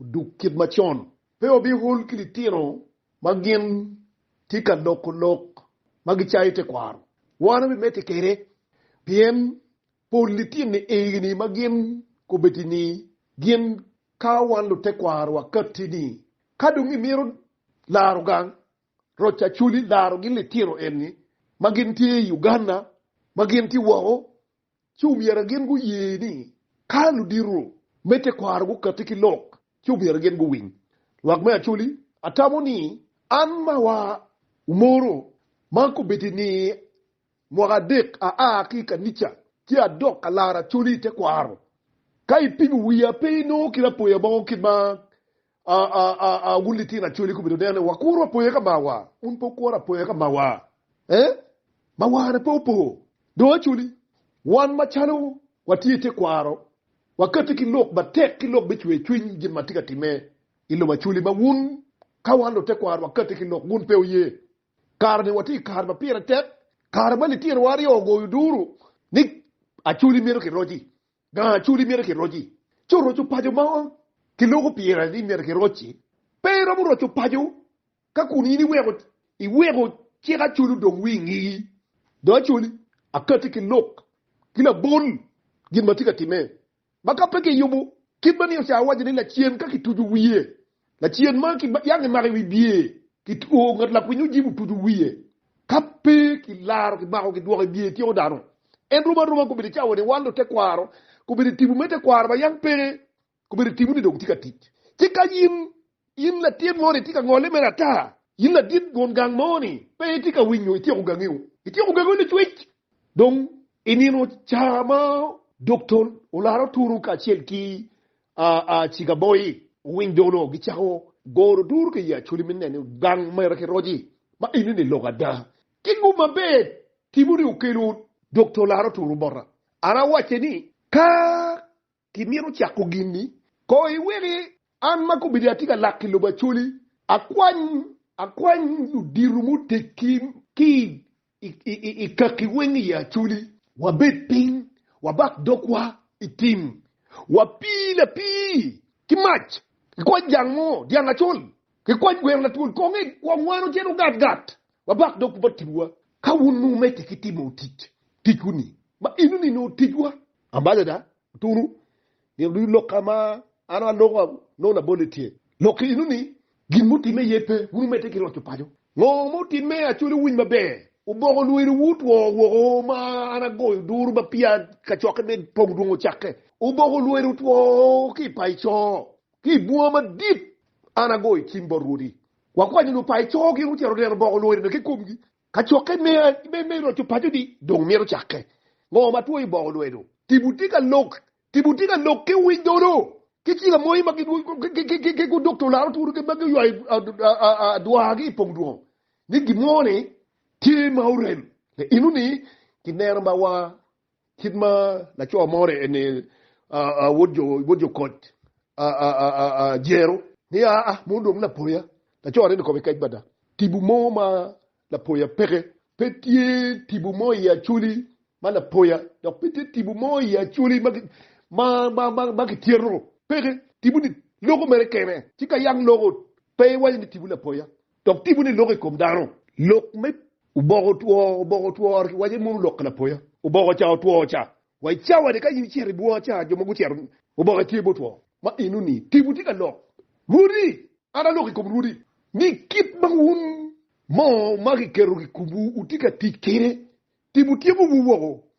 Oduk kit macon. Pe wabihol ki litino ma gin tye ka loko lok ma gicayo tekwaro. Wan wabimedde kwede, pien pol litini egini ma gin kobeddi ni gin ka wan lutekwaro wakatti ni ka dong imito laro gang, roc acoli laro gin litino enni ma gin tye i Uganda, ma gin tye woko ci omyero gin guye ni ka ludito me tekwaro gukatti ki lok, ci omyero gin guwiny. Lwak me Acholi, atamo ni an ma wa Umoro ma kobedo ni mwaka adek aa ki i kanica ci adok ka laro Acholi i tekwaro, ka ipimo wiya pe inongo kit apoya mo kit ma Aa, wun litino acoli gubedo neno ni wakuro apoya ka mawa. Wun pe wukuro apoya ka mawa. Ee, mawane pe opo. Dong acoli, wan macalo watye i tekwaro, wakati ki lok matek ki lok me cwercwiny gin ma tye ka timme i lobo acoli, ma wun, ka wan lutekwaro wakati ki lok, wun pe wuye. Kare-ni watye i kare ma pire tek, kare ma litinowa aryo ogoyo duru ni acoli mito kiroc-ci. Gang acoli myero kiroc-ci, ci oroco paco ma kiloko pire ni myero kiroc-ci. Pe iromo roco paco ka kun in iweko iweko cik acoli odong wi ngegi. Jo acoli akati ki lok ki labol gin ma tye ka timme, ma ka pe kiyubo kit ma ni ocawa waco ni lacen ka kituco wiye Lacen ma ki yang kimako i wi bye, ki two ngat lakwiny ojib otuco wiye. Ka pe ki laro ki mako ki dwoko i bye tyeko dano. En romo aroma kobedo cawa ni waldo tekwaro kobedo i tibu me tekwaro ma yam peke kobedo tibu ni dong tye ka tic. Ci ka yin, yin latin mo ni itye ka ngole mere ata, yin ladit gun gang mo ni pe itye ka winyo ityeko gangi o, ityeko gangi o licwec dong inino ca ma dokta olaro turu kacel ki Cikaboyi owiny dong onongo gicako goro duru ki i Acholi me neno gang mere ki roc-ci ma enini lok ada. Ki gum maber Timoni okelo dok tolare oturo bota. An awacce ni, Ka kimito cako gin-ni, ko iweki an ma kobedo atye ka lak i lobo Acholi akwany akwany ludito muteggi ki i I kaki weng i Aculi. Wabed piny, wabak dogwa i tim, wapii lapii ki mac, kikwany jang mo, dyang acol, kikwany gweno latwol kong i wangwano cen ogat gat, wabak dog bot timwa. Ka wun wumedde ki timo tic, ticwu-ni, ma enoni nongo ticwa. Ambassador, Otunu nino ducu lok ka ma an aloko nongo labolle tye. Lok ki inu ni gin mutimme aye pe, wun wumedde ki loco paco. Ngo ma otimme? Acwali wuwiny maber, oboko lweliwu otwo woko ma an agoyo duru ma peya kacokke me pong dwong ocakke. Oboko lwelo otwo ki i payo co, ki i bunga madit. An agoyo cim bot rwodi, wakwanyo nyo payo co gin gucito neno oboko lwelo-ni ki komgi, Kacokke me roco paco-ni dong myero ocakke. Ngo ma two iboko lwedo? Tipo tye ka lok, tipo tye ka lok ki wic nono, ki cilo moye ma ki gudok to laro twolo ma guywayo adwagi i pong dwongo ni gin mo ni tye ma orem. Innu ni kineno ma wa Kit ma laco mo orye ni, Wod jo koc, jero ni aa, ma odong lapoya. Laco arye ni kome kec bada. Tibu mo ma lapoya peke. Pe tye tibu mo i Acholi ma lapoya, dok pe tye tibu mo i Acholi ma kityeto. Peke. Tibu-ni loko mere kene, ci ka yang loko, pe iwaco ni tibu lapoya. Dok tipo ni lok i kom dano. Lok me. Oboko otwo, oboko otwo rik iwaco mono lok lapoya. Oboko ca otwo ca. Wa i cawa ni ka in icito i bunga ca jo ma gucito oboke tye gutwo. Ma enoni tipo tye ka lok. Rwodi, an aloko i kom rwodi ni kit ma wun mo ma kiketo i komwu wutye ka tic kwede, tipo tyekowu woko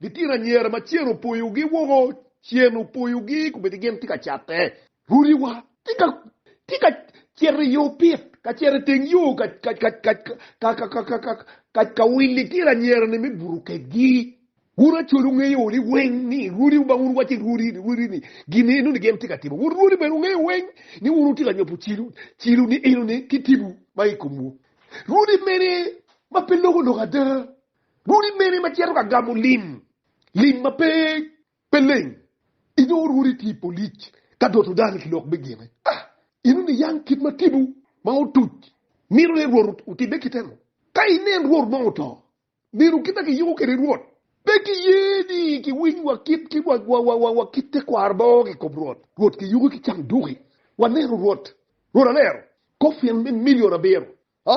Litino anyira ma cen opoyogi woko, cen opoyogi kubedi gin tye ka catte, ruriwa tye ka cito i yo pit ka cito i teng yo ka wil litino anyira-ni me buto kedgi. Wun acwal wungeyo ni weng ni rwodiwu bang wun wacci rwodi ni gin eno ni gin tye ka timo. Wun rwodi bene wungeyo weng ni wun wutye ka nyupo cilo ni eno ni ki tipo ma i komwu. Rwodi mene ma pe loko lok ada? Rwodi mene ma cito ka gamo lim, lim ma pe pe leng? I nongo rwodi tye i polic ka doto dano ki lok me gine. Ah, inu niyang kit ma tipo ma otuc mito ni rwot otibbe kite nu? Ka inen rwot mo oto, meno kit ma kiyuko kwede rwot, pe kiye ni kiwiny wa kit ki wa kit tekwaro ma ongo ki kom rwot. Rwot kiyuki ki canduki. Waneno rwot, rwot alero kofin me milion abiro Ha?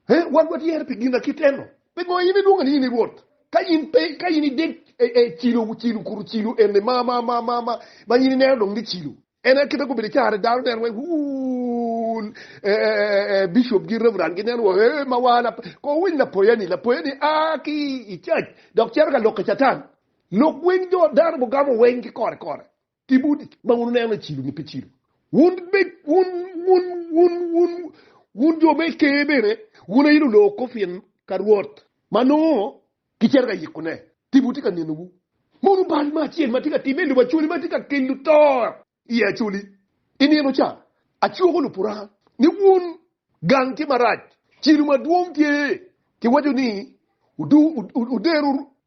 He, wan watyer pi gin akit eno. Pi ngo in ilwonga ni in i Rwot? Ka in pe, ka in idek e, e, cilo, cilo, kuru cilo eni ma, ma, ma, ma, ma, ma in ineno dong ni cilo. En aye kite gubedo icarre, dano neno wai, Wuun, e, e, e, e, e, bishop gi reverend ginen wa, he, ma wa, lap, ko winy lapoyani, lapoyani a ki i cac, dok cito ka lok ki Catan. Lok weng jo, dano gugamo weng ki kore, kore. Tibu ma wun wuneno ni cilo nyo pe cilo, wun be wun wun wun wun wun jo me Ker bene wun aye luloko pien ka Rwot ma nongo gicito ka yikone tibu tye ka nenowu. Mono bal ma acel ma tye ka timme i lobo Acoli ma tye ka kelo to i Acoli i nino ca? Acwoko Lupuranga ni wun gang tye marac, cilo madwong tye, kiwaco ni, Wuder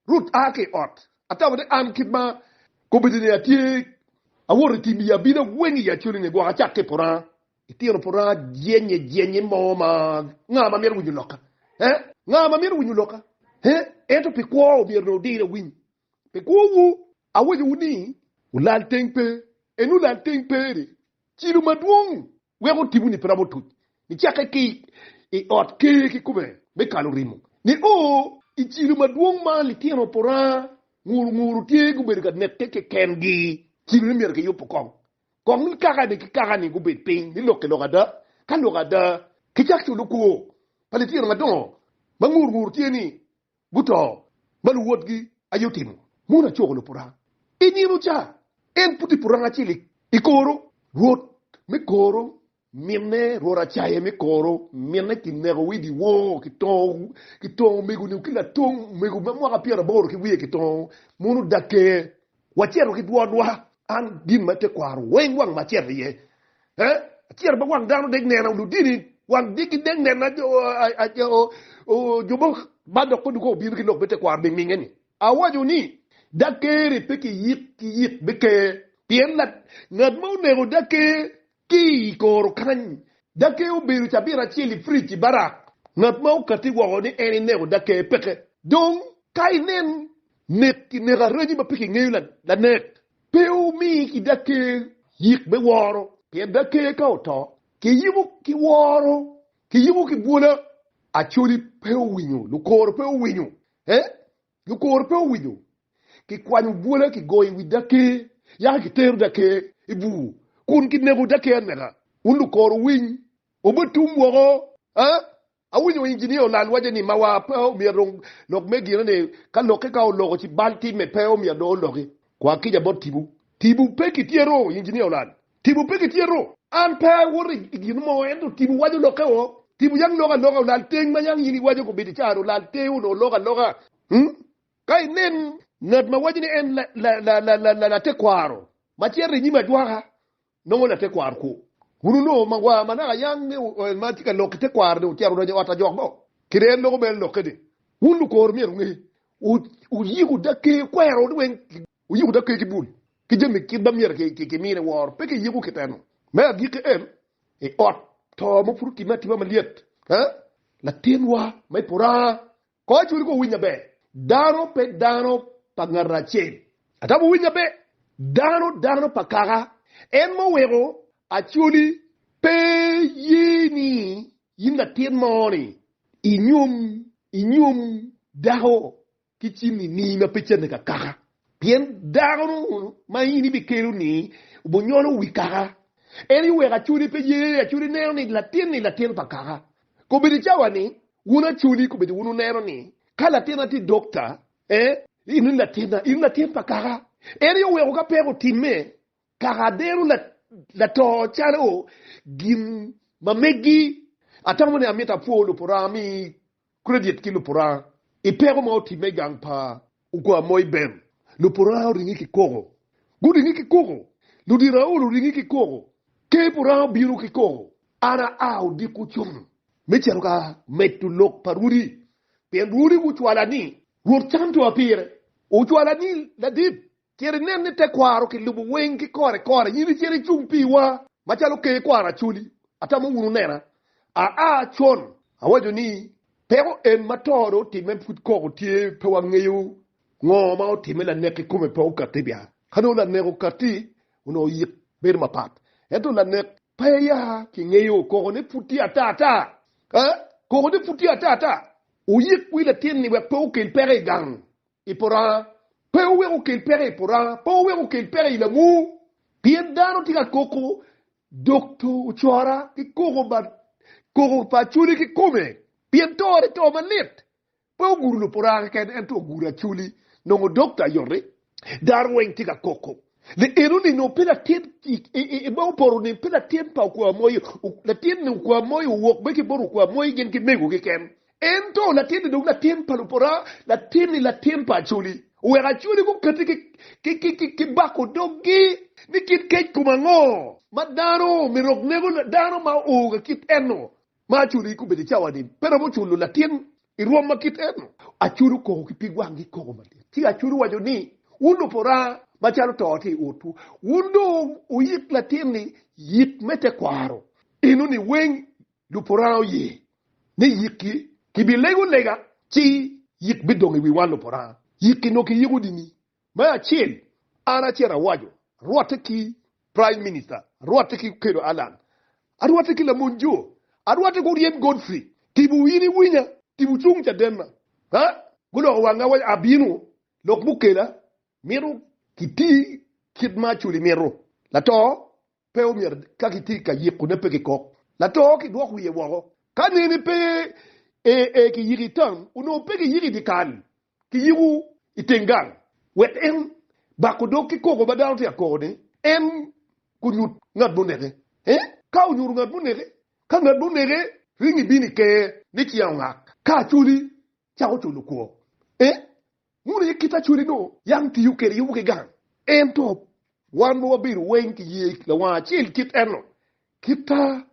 wurut a ki i ot Atamo ni an kit ma kombedini atye awoto i tim i abina weng i Acholi-ni gwok acak ki i Puranga. Itino Puranga jennye jennye mo ma nga ma mito winyo lokka? Eh? Nga ma mito winyo lokka? Eh? Ento pi kwo omyero dong odir awiny. Pi kwowu awacowu ni, Wulal teng pe, en olal teng peri. Cilo madwong weko tiponi pe romo otuc nicakke ki i ot ker kikome me kalo rimo ni o i cilo madwong ma litino puranga nguru nguru tye gubedo ka neke kekengi. Cilo ni myero kiyub kong kong ni kaka ni ki kaka ni gubed piny ni lok ki lok ada ka lok ada kicak culo kwo pa litino madongo ma nguru nguru tye ni guto ma luwotgi aye otimo. Mono acoko lupuranga i nino ca? En pud i puranga acel i koro. Rwot me koro minne, Rwot acaye me koro minne kineko wi dyewor ki tongo omego-ni ki latong omego ma mwaka pyeraboro ki wiye ki tongo, mono odakke Wacito ki dwonwa, an gin ma tekwaro weng wang ma acito iye, eh, acito ma wang dano dek nena, ludini wang degi dek nena, jo mo ma dok pe dukong obino ki lok me tekwaro ningninge ni, awaco ni, Daker-ri pe kiyik ki yik me ker, pien ngat ma oneko Daker Ki i koro kany, Dakee obedo cabit acel i fridge i barak. Ngat ma okatti woko ni en ineko Dakee peke. Dong, ka inen nek ki neko araji ma pe kingeyo lanek, pe omi ki Dakee yik me woro, pien Dakee ka oto, kiyubo ki woro, kiyubo ki bwola. Acholi pe owinyo, lukoro pe owinyo, eh? Lukor pe owinyo kikwanyo bwola, kigoyo i wi dake, yaka kitero dake i bur, kun kinego dake anega. Wun lukor owiny, obe otum woko! Aa! Awinyo injinia olal waco ni mawa pe omyero dong lok me gine ni ka lokke ka oloko ci bal timme pe omyero dong oloki. Kwa kica bot tibu. Tibu pe kitye ru, injinia olal. Tipo pe gityeto. An pe awoto i gin mo, ento tipo waco lokke o. Tipo yam loko aloka olal teng ma yam in iwaco kobedo i caro olal teng onongo loko aloka. Ka inen ngat ma waco ni en latekwaro ma cito i nyim ajwaka, nongo latekwaro kwo. Kun onongo magwar ma naka yang ni oel ma tye ka lok ki tekwaro-ni ocito odonyo i ot ajok bo, kede en loko bene lokke-ni. Wun lukor myero wunge, wuyik wudakki kwero-ni weng. Wuyiko dok kegi bul ki jami kit ma myero kimine woro, pe ki yiko kiteno. Me agikki en, i ot to ma pud otimme atima malyet, latinwa ma i puraha kor cwinyi kong owiny maber, dano pe dano pa ngat acel, ata wuwiny maber, dano dano pa Kaka en ma oweko acoli. Pe iye ni in latin mo-ni inyom inyom dako ki cinini ma pe canne ka kaka, pien dano ma in ibikelo-ni obunyolo wi kaka, en aye oweko aculi pe ye, aculi ineno ni latin-ni latin pa kaka. Kobedo i cawa-ni, wun aculi kobedo wun wuneno ni ka latinna tye dokta, ee, in wun latinna, in latin pa kaka. En aye oweko ka peko otimme, kaka adero lato calo gin ma meggi. Atamo ni amito apwo Lupora mi Credit ki lupuranga i peko ma otimme i gang pa Ukwar Moi Ben. Lupuranga oringe ki koko. Guringe ki koko. Ludito aol oringe ki koko. Ker puranga obino ki koko. An aa odiko cung me cito ka medo lok pa rwodi pien rwodi gucwala ni Rwot cam to apire. Ocwala ni ladit Cito inen ni tekwaro kilubo weng ki kore kore, in icito icung piwa macalo ker kwaro Acholi, atamo wunu nena aa con. Awaco ni, peko en ma to dong otimme pud koko tye, pe wangeyo ngo ma otimme lanek kikome pe okati bia, ka nongo lanek okati onongo oyik bedo mapat, ento lanek pe ya kingeyo, koko ne pud tye ata ata, ee koko ne pud tye ata ata, oyik wi latin ni wek pe okel peko igang I puranga, Pe wuweko kel peko i puranga, pe wuweko kel peko i lamu, pien dano tye ka koko dok to ocora ki koko ma koko pa acholi kikome, pien tore to malit. Pe wuguro lupuranga keken, ento wuguro acholi, nongo dok to ayot-ri. Dano weng tye ka koko ni eno ni nongo pe latin i ma opoto ni pe latin pa okwa moyo, latin ni okwa moyo owok bene ki bot okwa moyo gin ki mego keken, Ento latinni dong latin pa lupora, latinni latin pa Acholi. Oweko Acholi gukati ki bako doggi ni kit kec kom ango ma dano myero rok nego dano ma oo ka kit eno ma Acholi gubedo i cawa-ni pe romo culo latin i rwom ma kit eno. Acholi okoko ki pig wanggi koko madit ci Acholi owaco ni, Wun lupora ma calo to tye i otwu, wun dong wuyik latinni yit me tekwaro eno-ni weng Luporanga oye ni yikki kibilego lega ci yik bidong i wi wan luporanga. Yikki nongo kiyiko dini me acel, an acito awaco, arwotte ki Prime Minister, arwotte ki Okello Allan, arwotte ki Lamony Jo, arwotte ki Oryem Godfrey, tipo in iwinya, tipo cung cadenna. Ha? Guloko wanga waco abino, lok mukela, mito kiti kit ma Acholi mito, lato Pe omyero ka kitye ka yikone pe kikok lato kidwok wiye woko. Ka nene pe ee ki yiko i tam onongo pe kiyiko i dye kal, kiyiko i teng gang wek en bako dog ki koko ma dano tye ka kokone, en gunyut ngat muneke. Ee, ka onyuto ngat muneke, ka ngat muneke ringo ibino i ker ni ci aongak. Ka acholi cako culo kwor. E. Muno aye kit acwali nongo yam tiyo kede yubu ki gang. Ento wan ma wabedo weng ki ye lawang acel kit enno, kita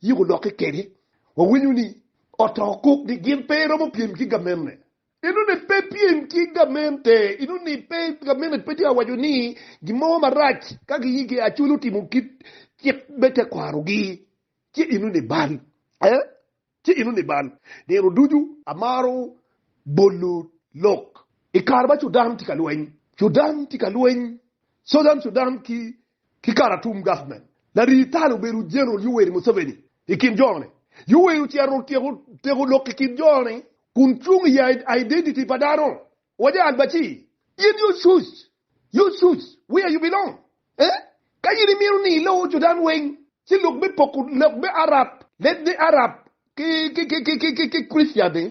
yik olokke kede, wawinyo ni oto kuk ni gin pe romo pyem ki gamenne. Eno ni pe pyem ki gamente, eno ni pe gamente pe tye ka waco ni gin mo marac ka gi yigi acwali otimo kit cik me tekwaro gi, ci eno ni bal. E. Ci in oniban. Nino ducu amaro bolo lok. I kare ma Cudan tye ka lweny, Cudan tye ka lweny, Southern Sudan ki ki Karatum government, larii tal obedo General Yoweri Museveni i kin jo ni. Yoweri ocito tyeko teko lok i kin jo ni kun cung i identity pa dano. Owaco Al-Bashir, in you shush! Your shoes where you belong eh Ka in imito ni iloo jo dan weng ci lok me poko lok me Arab led ni Arab ki ki Christian ni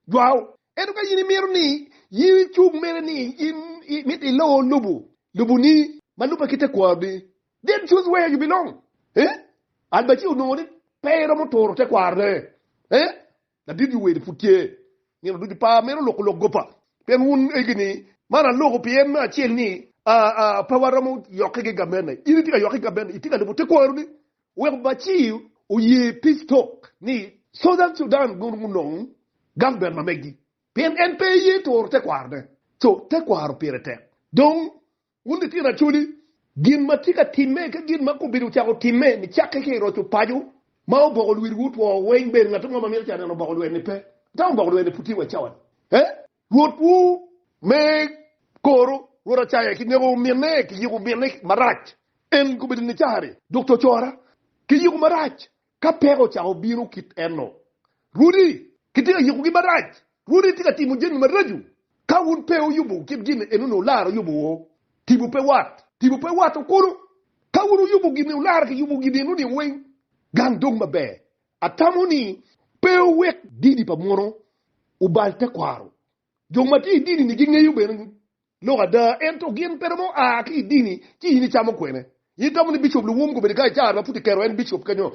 jwao ento ka in imito ni in icung mere ni in imito iloo lubu lubu ni ma lube ki tekwaro ni then choose where you belong eh Al-Bashir onongo ni pe eromo turo tekwaro ne eh Ladit wi welo pud tye. Nino ducu par meno loko lok gopa pien wun egi ni man aloko pien me acel ni a a pe waromo yokke ki gabene. In itye ka yokke ki gabene, itye ka lubo te kwaro ni wek Bashir oye peace talk ni Southern Sudan gun gunong government ma meggi pien en pe eye turo te kwaro ne. So te kwaro pire tek. Dong Wun litino acholi, gin ma tye ka timme ki gin ma kobedo ocako timme nicakke ki i roco paco ma oboko lwiriwu otwo weng, ber ngat mo ma mito ca neno oboko lwer-ni pe, ento oboko lwer-ni pud tye wa i cawa-ni. Ee, rwotwu me koro, rwot Acaya, kineko minne, kiyiko minne marac, en kobedo Nicari, dok cocora, kiyiko marac, Ka peko ocako bino kit eno, rwodi kitye ka yukugi marac. Rwodi tye ka timo jami maraco. Ka wun pe wuyubu kit gin eno ni olara oyubu wo, tipo pe wat. Tipo pe wato kulu. Ka wun wuyubu gin ni olara kiyubu gin eno ni weng, gang dong maber. Atamo ni pe wuwek dini pa munu obal tekwaro. Jo matye idini ni gingeyo bene ni Lok ada, ento gin pe romo a ki i dini ci in icamo kwene. In itamo ni Bicop Luwum kobedo ka icar ma pud kiketo en Bicop kenyo?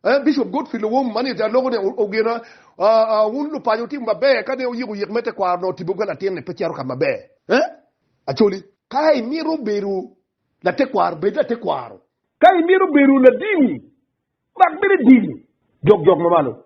Eh, Bicop Godfrey Luwum ma niyete aloko ni ogena, ah, ah, wun lupaco wutimo maber ka ne wuyiko yik me tekwaro nongo tibogi ka latin ni pe cito ka maber. Eh, Acholi. Ka imito bedo latekwaro, bed latekwaro. Ka imito bedo ladini, mak bene dini. Jok jok ma malo.